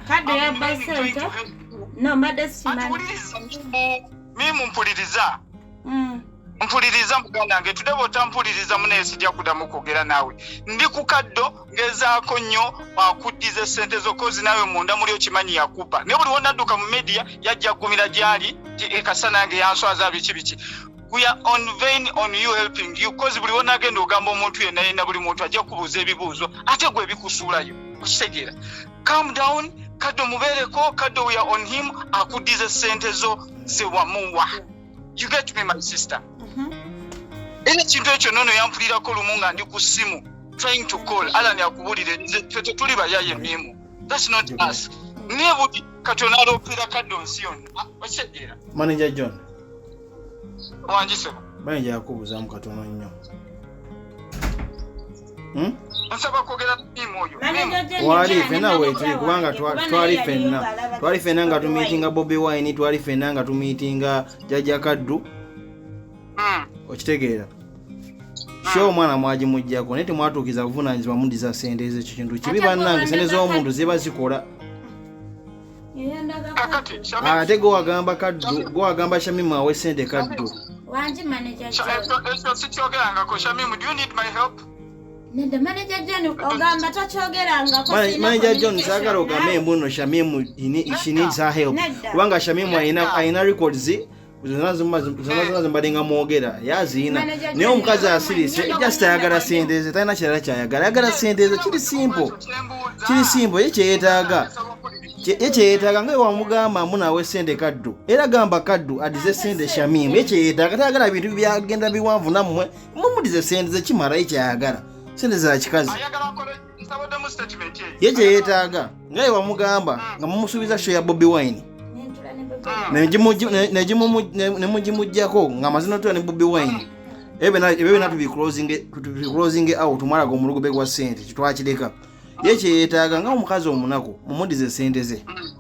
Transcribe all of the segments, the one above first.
kadde yabba sente no mbadde simanmimu mpuliriza mm. mpuliriza muganda nge tude bwotampuliriza munaye sijja kudamu kwogera naawe ndi ku kaddo ngezaako nnyo akuddiza esente zokozi naawe munda muli okimanyi yakuba naye buli wonadduka mu media yajja kugumira gyali ekasa nange yanswaza biki biki we are on vain on you helping you cause buli wonagenda ogamba omuntu yena yena buli muntu ajja kubuuza ebibuuzo ate gwe ebikusuulayo okitegeera calm down kaddo mubeereko kaddo we are on him akuddize sente zo zewamuwa you get me my sister mm-hmm. era ekintu ekyo nono yampulirako lumu nga ndi ku ssimu trying to call alan akubuulire fe tetuli bayaye mimu thats not mm-hmm. us naye buli katonda aloopera kaddo nsi yonna ah, okitegeera manager john wangisebo bani jakubuzamu katono nnyo hmm? nsaba kwogera namimu oyo wali fena wetuli kubanga twali fenna twali fenna nga tumiitinga bobi wine twali fenna nga tumiitinga jajja kaddu hmm. okitegeera kyo omwana mwagimugjako naye temwatuukiza buvunanyizibwa mudiza sente ezo ekyo kintu kibi bannange sente z'omuntu ziba zikola Ah, ate gwewagamba kaddu gwewagamba shamimu awe sente kaddu manaja john sagala ogambe embuno shamimu she needs her help kubanga shamimu alina records zazimubadde nga mwogera yaziina naye omukazi asirise just ayagala sente ze talina kirala kyayagala ayagala sente ze kiri simpo kiri simpo ye kyeyetaaga ye kyeyetaaga nga wamugamba munawe sente kaddu era gamba kaddu adize sente shamimu ye kyeyetaaga tayagala bintu byagenda biwanvu nammwe mumudize sente ze kimala ye kyayagala sente za kikazi ye kye yeetaaga nga ye wamugamba hmm. nga mumusuubiza sho ya bobi wine nemugimujjako hmm. ngaamazina otula ne bobi wine hmm. ebyo byona tubiclosing out omwalaga omulugube gwa sente kitwakireka ye kye yeetaaga nga omukazi omunaku mumudize sente ze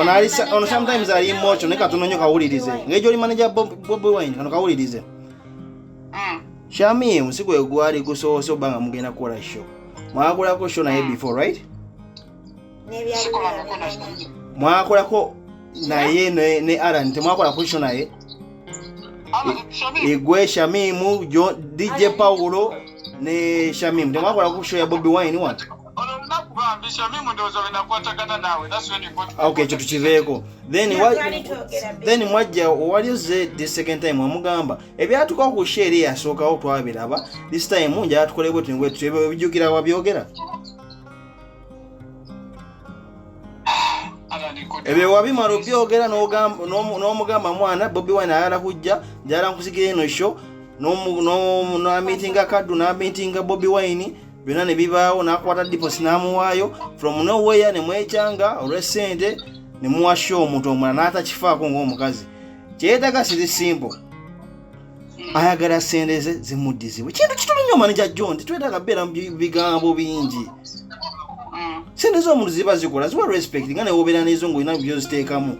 ono ali ono sometimes ali emotion ne katono nyo kawulirize ngejo oli manager Bobi Wine kano kawulirize mm. Shami usiku egwali gusoose obanga mugenda kukola show mwakolako show naye mm. before right mwakolako naye ne, ne Alan temwakolako show naye igwe Shamimu DJ Paulo ne Shamimu temwakolako show ya Bobi Wine watu okay ekyo tukiveeko then mwajja owaliyo ze the second time wamugamba ebyatuka ku sheeri yasookawo twabiraba this time njala tukole bwe tunywe tutyebe ebijjukira wabyogera ebyo wabimala obyogera n'omugamba mwana bobi wine ayala kujja njala nkusigira eno sho n'amitinga kaddu n'amitinga bobi wine byonna ne bibaawo n'akwata diposi n'amuwaayo from nowhere ne mwekyanga olw'essente ne muwasha omuntu omulala n'atakifaako ng'omukazi kyeyetaga siri simple ayagala sente ze zimuddizibwe kintu kituli nnyo maneja john tetwetaaga beera mu bigambo bingi mm. sente z'omuntu ziba zikola ziwa respect nga newobeera nezo ngaolina byoziteekamu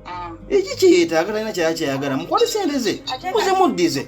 mm. eki kyeyetaaga talina kyaya kyeyagala mukwate sente ze muzimuddize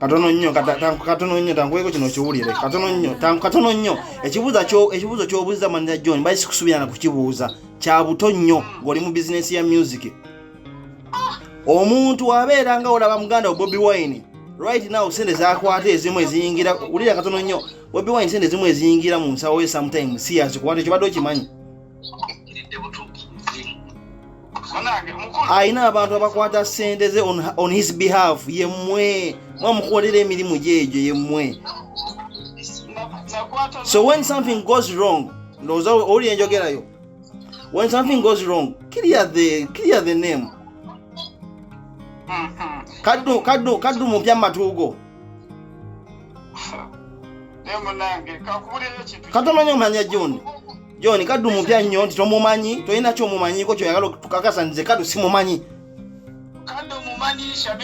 katono nnyo katono nnyo tankuweko kino kiwulire katono nnyo katono nnyo ekibuuzo kyobuuza manira john bali sikusubirana kukibuuza kya buto nnyo ng'oli mu bizinensi ya music ah! omuntu wabeera nga olaba muganda wa bobi wine right now sente zakwata ezimu eziyingira wulira katono nnyo bobi wine sente ezimu eziyingira mu nsawo ye sometime siyazi kubanga ekyo badde okimanyi alina abantu abakwata sente ze on his behalf yemwe mwamukolera emirimu gyegyo yemwe so when something goes wrong ndowooza owulira enjogerayo when something goes wrong clear the, clear the name kaddu kaddu kaddu mu byamatuugo katomanya omanya joni John kaddu mupya nnyo nti tomumanyi tolina kyomumanyiko kyoyagala tukakasa nze kaddu simumanyi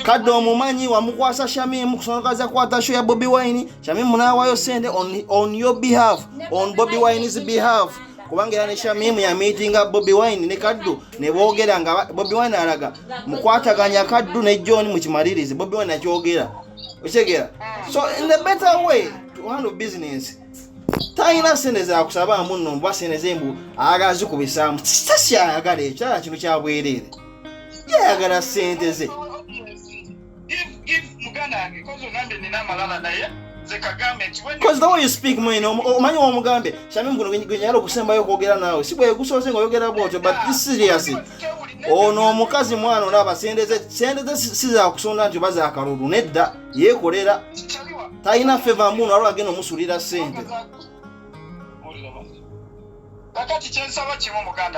kadde omumanyi wamukwasa shamimu kusongaza kwata sho ya bobi wine shamimu nawayo sente on, on your behalf on bobi wine's behalf kubanga era ne shamimu yamiitinga bobi wine ne kaddu ne boogera nga bobi wine alaga mukwataganya kaddu ne john mukimalirize bobi wine akyogera okitegera so in the better way to handle business talina sente zakusabaamu nno mbuba sente ze mbu ayagala zikubisaamu sasi ayagala ekyala kino kyabwereere yayagala sente ze Because the way you speak mwene omanyi womugambye shami mguno gwenyala okusembayo okwogera naawe si bwegusoose nga oyogera bwotyo but this serious ono omukazi mwana olaba sente ze sizakusonda nti oba zakalulu nedda yekolera talina feva muno alwo agenda omusulira sente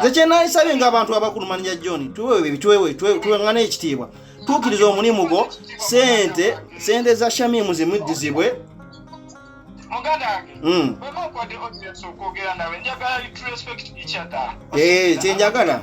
zekyenaisabye nga abantu abakulu manja john tuwewebituwewetwewengana ekitiibwa tuukiriza omulimu gwo sente sente za shamimu zimuddizibwe muganda wange hmm. bweba okwade audience okwogera nawe njagala kyenjagala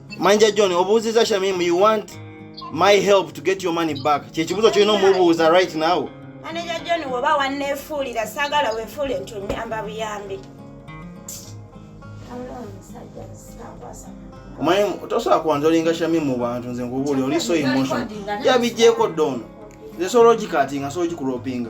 manja john obuuziza shamim you want my help to get your money back kyekibuzo kyolina omubuuza right now maneja john woba wanneefuulira saagala weefuule nti onyamba buyambi omanyi tosobola kuwanza olinga shami mu bantu nze nkubuuli oli so emotion yabijjeeko doono nze soologikatinga soologikuropinga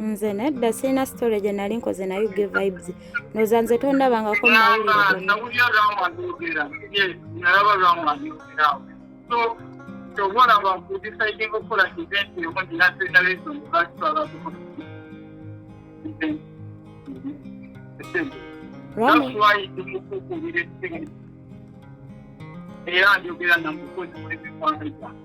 nze nedda sirina sitore gye nali nkoze naye ge vibes noza nze tondabangako era njogera namukozi mulibikwano gyange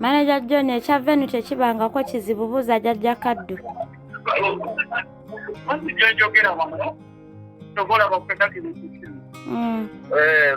Manaja John ekya venu tekibangako kizibu buuza jajja kaddu. Mm. Eh,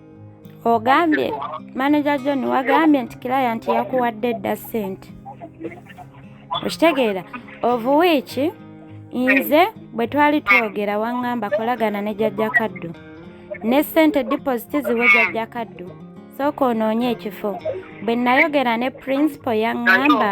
ogambye manager john wagambye nti client yakuwadde dda sente okitegeera ovuwiiki nze bwe twali twogera waŋŋamba kolagana ne jajja kaddu ne sente deposit ziwe jajja kaddu sooka onoonye ekifo bwe nayogera ne principal yaŋŋamba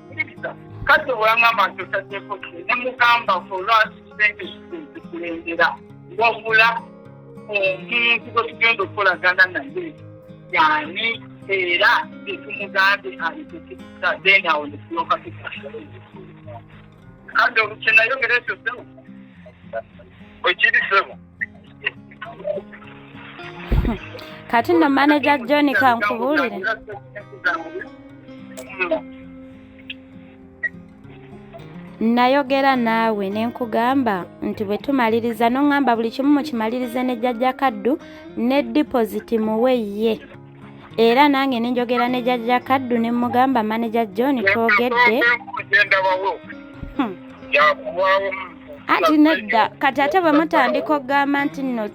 kati olwangamba nti otaddeko ki nemugamba olwasente zikulembera wabula omuntu gwe tugenda okukolagana naye yani era tetumugambye alitukiriza then awo netuloka tukasoleza kandi olukyenayogera ekyo sebo ekiri sebo kati no manager john kankubulire nayogera naawe ne nkugamba nti bwe tumaliriza n'oŋŋamba buli kimu mukimalirize ne jjajja kaddu ne dipoziti muwe ye era nange ne njogera ne jjajja kaddu ne mmugamba maneja john twogedde hmm. anti nedda kati ate bwe mutandika okugamba nti nno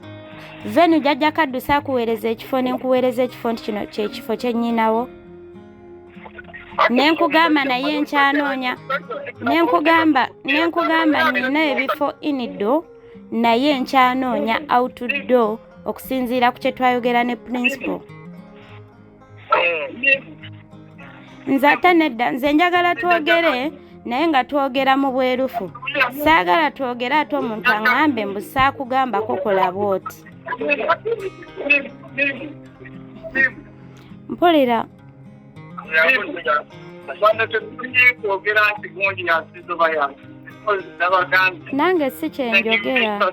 venu jajja kaddusa akuweereza ekifo ne nkuweereza ekifo nti kino kyekifo kyennyinawo nenkugamba naye nkyanoonya nenkugamba nenkugamba nina ebifo inido naye nkyanoonya outdo okusinziira ku kyetwayogera ne principal nze ate nedda nze njagala twogere naye nga twogera mu bwerufu saagala twogere ate omuntu aŋambe mbu saakugambako kola bwoti mpulira nange si kyenjogera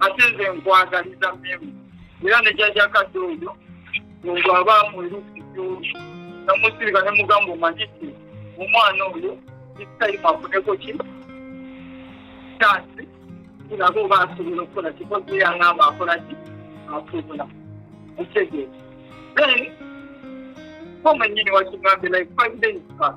ate nze nkwagaliza memu era ne jaja kadde oyo muntu aba mwerukijo namusirika ne mugamba omanyiki omwana oyo isitayima afuneko ki kyansi kiraga oba asobola okukola kikozi yangamba akola ki asobola okitegeeza then ko mwenyini wakigambye like five days back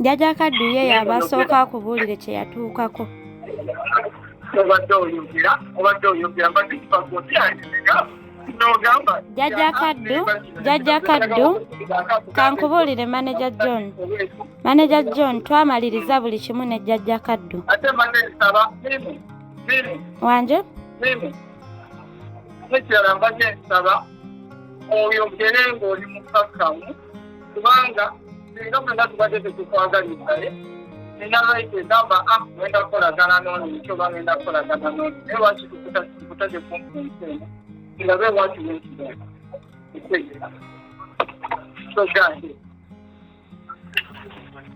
jjaja kaddu ye yabasooka akubuulire kye yatuukako jjaja kaddu jjaja kaddu kankubuulire maneja john maneja john twamaliriza buli kimu ne jjaja kaddu wanje nekirala mbadde nsaba oyogere ng'oli mukakkamu kubanga singa mwena tubadde tetukwagalizaye nina lwaite gamba a ah, ngenda kukolagana nono nti oba ngenda kukolagana nono naye lwaki tukutaje kumpi ensi eno ngabe lwaki wenkibeera ekwegera so gandi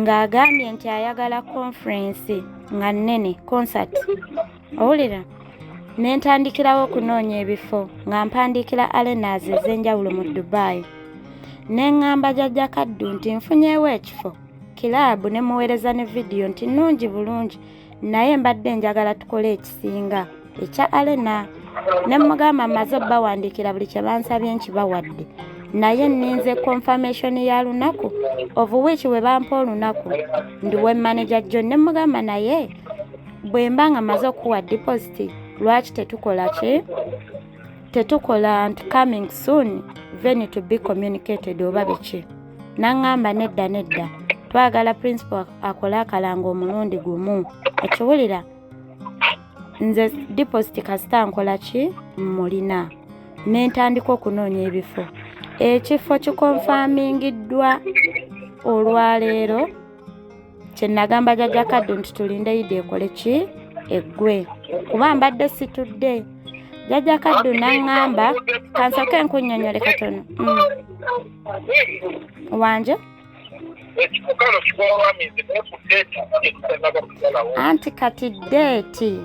ng'agambye nti ayagala konferensi nga nnene concert owulira ne ntandikirawo okunoonya ebifo nga mpandiikira arenas ez'enjawulo mu dubai ne ŋŋamba jajja kaddu nti nfunyeewo ekifo kiraabu ne muweereza ne vidiyo nti nnungi bulungi naye mbadde njagala tukole ekisinga ekya alena ne mugamba maze bawandiikira buli kye bansabye nkibawadde naye nninze confirmation ya lunaku of which we bampa olunaku ndi we manager john ne mugamba naye bwe mba nga maze okuwa deposit lwaki tetukola ki tetukola nti coming soon then to be communicated oba biki N'aŋŋamba nedda nedda, twagala principal akole akalango omulundi gumu. Okiwulira? Nze deposit kasita nkola ki mmulina. Ne ntandika okunoonya ebifo. Ekifo kikonfamingiddwa olwaleero. kyenagamba jaja kaddu nti tulinde yidi ekole ki eggwe kuba mbadde situdde jaja kaddu naŋŋamba kansoke nkunyonyole katono mm. wanje anti kati deeti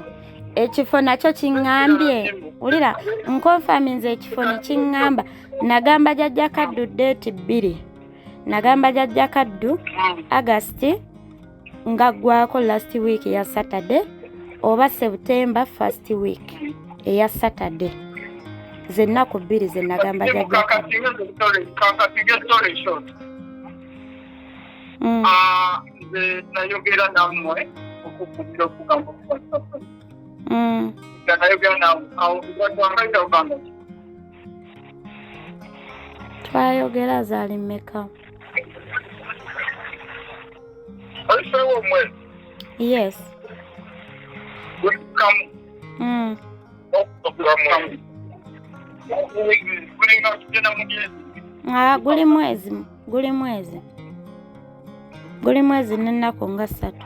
ekifo nakyo kiŋŋambye wulira nkonfaminze ekifo ne kiŋŋamba nagamba jajja kaddu deeti bbiri nagamba jajja kaddu hmm. agast nga ggwako last week ya saturday oba september first week eya saturday zennaku bbiri zenagamba jajja hmm. ah, nayogera namwe okukubira okugamba okubasaba hmm. nayogera nawe awo gwatwambaira ogamba twayogera zaali mmeka yes mm. Ah, guli mwezi guli mwezi guli mwezi n'ennaku nga ssatu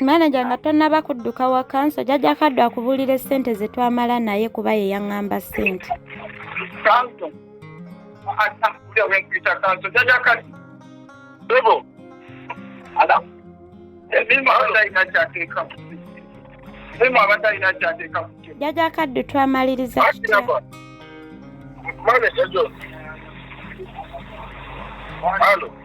maneja nga tonnaba kudduka waka nso jajja kaddu akubuulira essente ze twamala naye kuba ye yaŋŋamba ssente jajja kaddu twamaliriza kitya Hello.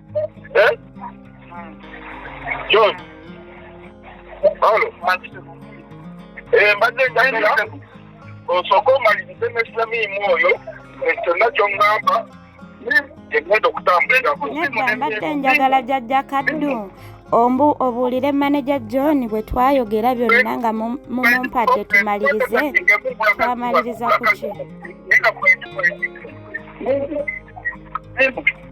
eh? John Paulo eh, mbadde njagala osooke omalirize ne Samimu oyo kyonna ky'oŋŋamba egenda okutambulirako nedda mbadde njagala jajja kaddu ombu obuulire maneja john bwe twayogera byonna nga mumumpadde tumalirize twamaliriza ku ki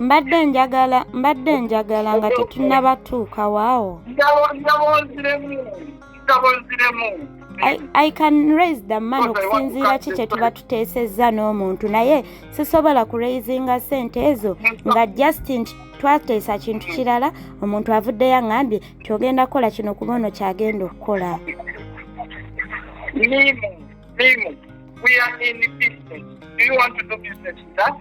mbadde njagala mbadde njagala nga tetunnaba tuuka waawo I, I can raise the man okusinziira ki kye tuba tuteesezza n'omuntu naye sisobola ku raisinga sente ezo nga just nti twateesa kintu kirala omuntu avuddeyo aŋambye nti ogenda kukola kino kuba ono kyagenda okukola Mimu, Mimu, we are in business. Do you want to do business with us?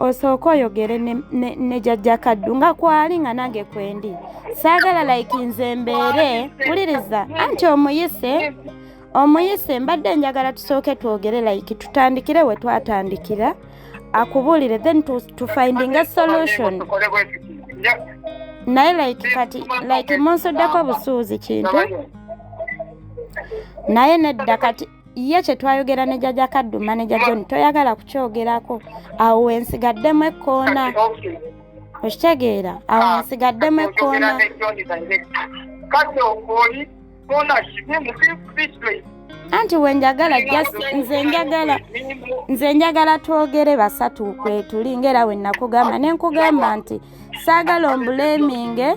osooka oyogere ne, ne, ne jajja kaddu nga kwali nga nange kwendi saagala like nze mbeere wuliriza anti omuyise omuyise mbadde njagala tusooke twogere like tutandikire we twatandikira akubuulire then to, to finding a solution naye like kati like munsuddeko busuuzi kintu naye nedda kati ye kye twayogera ne jaja kaduma ne jajoni toyagala kukyogerako awo wensigaddemu ekkoona okitegeera awo ah, wensigaddemu ekkoona anti wenjagala just nze njagala nze njagala twogere basatu kwetuli ngaera wenakugamba nenkugamba nti saagala ombuleeminge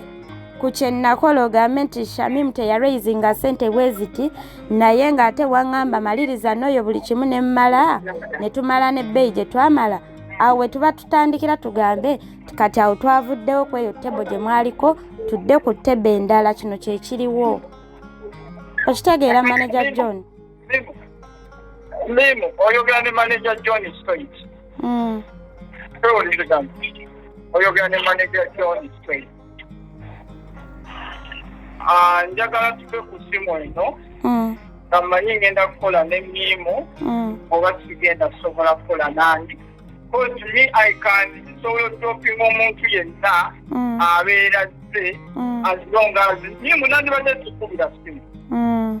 ku kye nnakola ogambe nti shamimu teyaraisinga ssente bwe ziti naye ng'ate waŋŋamba maliriza n'oyo buli kimu ne mmala ne tumala n'ebbeeyi gye twamala awo we tuba tutandikira tugambe kati awo twavuddewo ku eyo tebo gye mwaliko tudde ku tebo endala kino kye kiriwo okitegeera manaja john Mimu. Mimu. Oyogera ne manager John Straight. Mm. Ewo ni kigambo. Oyogera ne manager John Straight. Ah, njagala tuve ku simu eno. Mm. Kamanyi ngenda kukola ne Mimu. Mm. Oba sigenda sobola kukola nandi. Because me I can sobola okutopinga omuntu yenna mm. abeera zze mm. as long as Mimu nandibadde tukubira simu. Mm.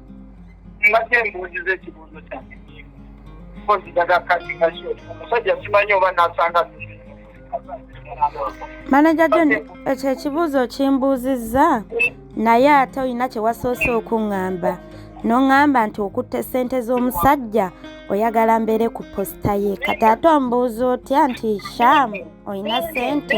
mbadde mbuuziza ekibuuzo kyange kozitaga kati kasio omusajja simanyi oba nasanga manaja john ekyo ekibuuzo kimbuuzizza naye ate olina kye wasoose okuŋŋamba n'oŋŋamba nti okutte ssente z'omusajja oyagala mbeere ku posita ye kati ate ombuuza otya nti shamu olina ssente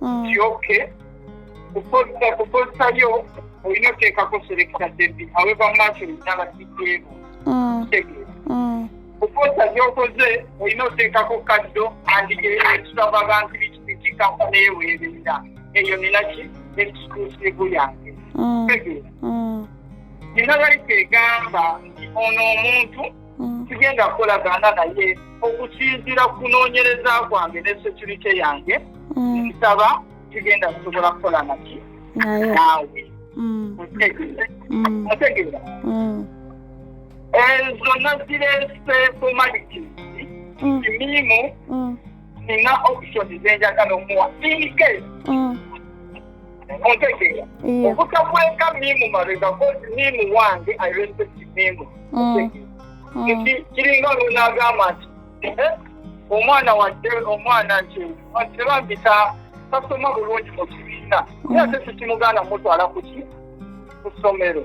mm. nti oke kukozesa lyo olina oteekako selekita debi aweva maaso lindala kijeemu mm. kitegeera mm. kukozesa gyokoze olina oteekako kaddo andi ekisabu abantu bikikikako neyeweerera eyo ninaki ekiklusivu yange kitegeera nina baliko egamba nti ono omuntu mm. sigenda kukolagana naye okusinzira ku kunoonyereza kwange ne security yange mm. nsaba sigenda kusobola kukola naki naawe otegeera ezo nazireese formality kimiimu nina option zenjagala omuwa inke mm. ontegeera obutakweka mimu mabega kozi mimu wange i respect mimu mm. mm. nti kiringa olunagamba nti eh, omwana wadde omwana nti tebambisa tasoma bulungi mu kibiina naye ate sikimuganda mutwala kuki ku ssomero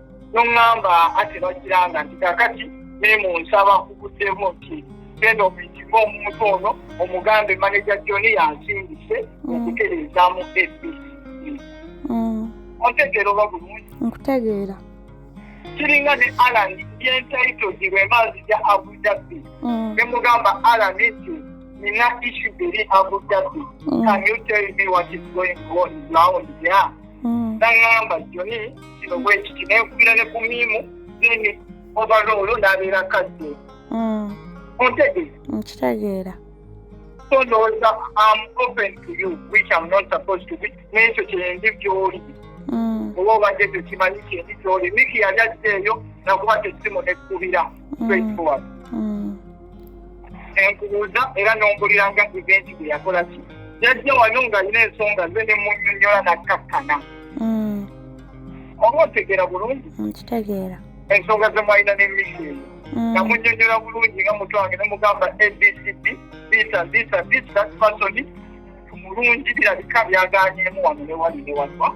noŋŋamba ate bakiranga nti kakati naye mu nsaba kuguddemu nti genda omuyitibwa omuntu ono omugambe maneja joni yansindise mm. okutereezamu ebisi mm. ontegeera oba bulungi nkutegeera kiringa ne alan yentaitogi lwemaazi ja abudabbi mm. ne mugamba alan nti nina isu eri abudabbi can you tell me what is going on round ya naŋamba joni kino bwekiti naye nkubira ne ku miimu zeni ovaloolo n'abeera kadde mm. ontegeera nkitegeera so ndowooza am open to you which am not supposed to be n'ekyo kyendi gyoli mm. oba obadde tekimanyi kyendi gyoli miki yali ajja eyo nakuba tesimu nekkubira straightforward mm. enkubuuza era nombulira nga event gwe yakola ki yajja wano nga alina ensonga ze ne munyonyola nakkakkana mm. oba otegeera bulungi nkitegeera ensonga ze mwalina n'emisiimu mm. nga munyonyola bulungi nga mutu wange ne mugamba abcd bisa bisa bisa fasoni mulungi birabika byaganyemu wano ne wali ne wanwa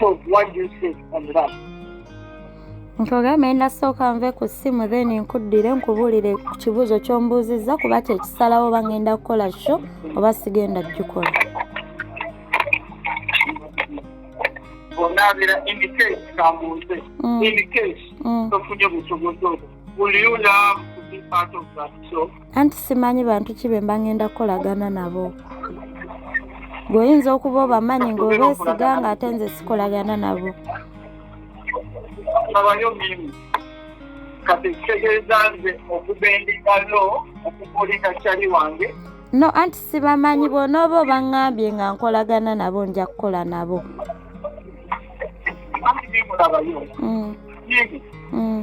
So why do you say on the last? nkugambye nasooka nve ku ssimu then nkuddire nkubuulire ku kibuuzo ky'ombuuzizza kuba kyekisalawo oba ngenda kukola sho oba sigenda kugikola onaabira indicate kambuuze mm. indicate mm. tofunye busobozi obwo will you love to be part of that show anti simanyi bantu ki be mba ŋŋenda kukolagana nabo ng'oyinza okuba obamanyi ng'obeesiga ng'ate nze sikolagana nabo abayo mirimu kati kitegeeza nze okuba endikalo okukulika kyali wange no anti sibamanyi bwonooba obaŋŋambye nga nkolagana nabo nja kukola nabo mm. mm.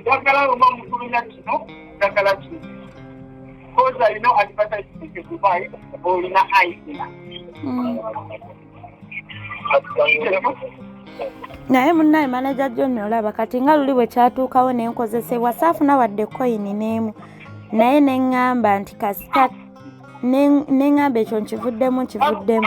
njagala luma mutulina kino njagala kino kozi alina advertisement e dubai olina aisina hmm. naye munnaye manaja joni olaba kati nga luli bwe kyatuukawo ne nkozesebwa saafuna wadde koyini n'emu naye ne ŋŋamba nti kasita ne ŋŋamba ekyo nkivuddemu nkivuddemu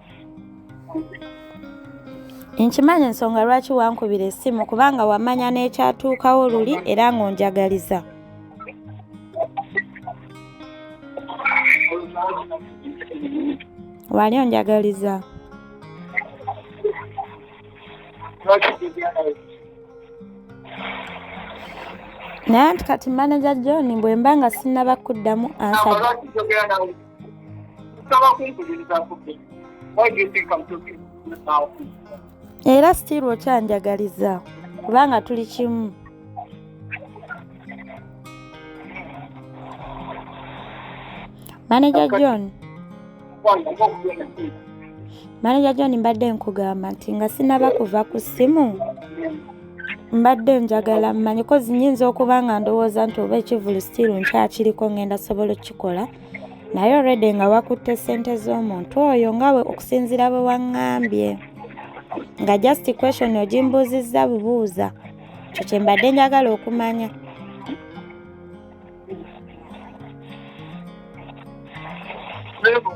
nkimanyi ensonga lwaki wankubira essimu kubanga wamanya n'ekyatuukawo luli era ng'onjagaliza wali onjagaliza naye nti kati manaja john bwe mba nga sinnaba kuddamu ansaba era sitiiru okyanjagaliza kubanga tuli kimu maneja john maneja john mbadde nkugamba nti nga sinaba kuva ku ssimu mbadde njagala mmanyi kozi nyinza okuba nga ndowooza nti oba ekivulu sitiiru nkyakiriko ngenda sobola okukikola naye olredi nga wakutte ssente z'omuntu oyo nga we okusinziira bwe waŋŋambye nga just question ogimbuuzizza bubuuza kyo kye mbadde njagala okumanya Thank you.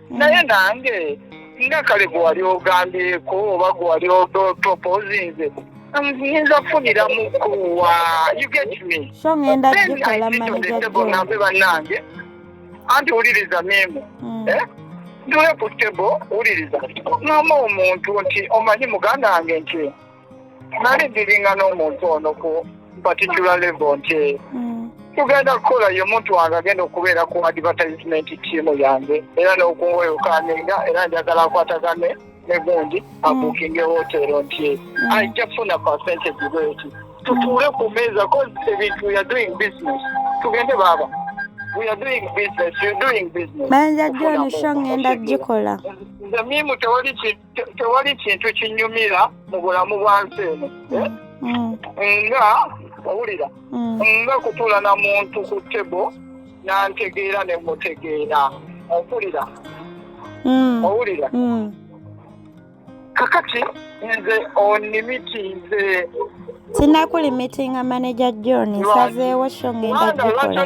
naye nange nga kale gwe wali ogambyeko oba gwe wali proposinze nyinza kufunira mukuwa you get me so ngenda kugikola manajabe bannange anti wuliriza memu hmm. eh? ndule ku tebo wuliriza noma omuntu nti omanyi muganda wange nti nali ndiringa n'omuntu ono ku particular level nti mm. tugenda kukola ye omuntu wange agenda okubeera ku advertisement tiimu yange era n'okunweyokaninga era njagala akwatagane ne gundi mm. abukinge wotero nti mm. ajja kufuna pasente gibweti tutuule ku meeza cause ebintu weare doing business tugende baaba manja joni sho ngenda gikola nze mimu tewali kintu tewali kintu kinyumira mu bulamu bwa nsi eno eh? mm. nga owulira mm. nga kutuula na muntu ku tebo nantegeera ne mutegeera ompulira mm. owulira kakati nze onimiti nze sinakulimitinga maneja john nsazeewo sho ngenda gikola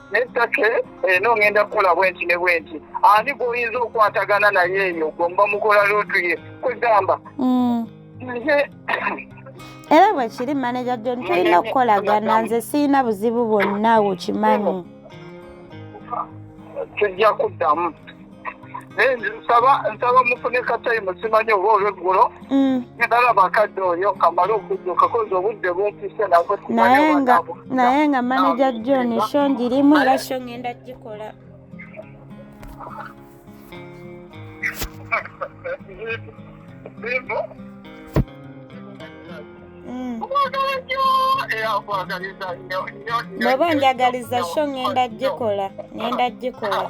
naye take eno eh, ngenda kukola bwenti ne bwenti ani gwoyinza okwatagana naye eyo gomba mukola luutu ye kwegamba mm. era bwekiri maneja jon tulina okukolagana nze sirina buzibu bwonna wokimanyi tujja kuddamu naye nsaba nsaba mufune katayimu simanyi oba olweggulo mm. ndalaba akadde oyo kamale okudduka kozi obudde bumpise naye nga manaja john sho ngirimu era sho ngenda gikola mm. bw'oba njagaliza sho ngenda gikola ngenda gikola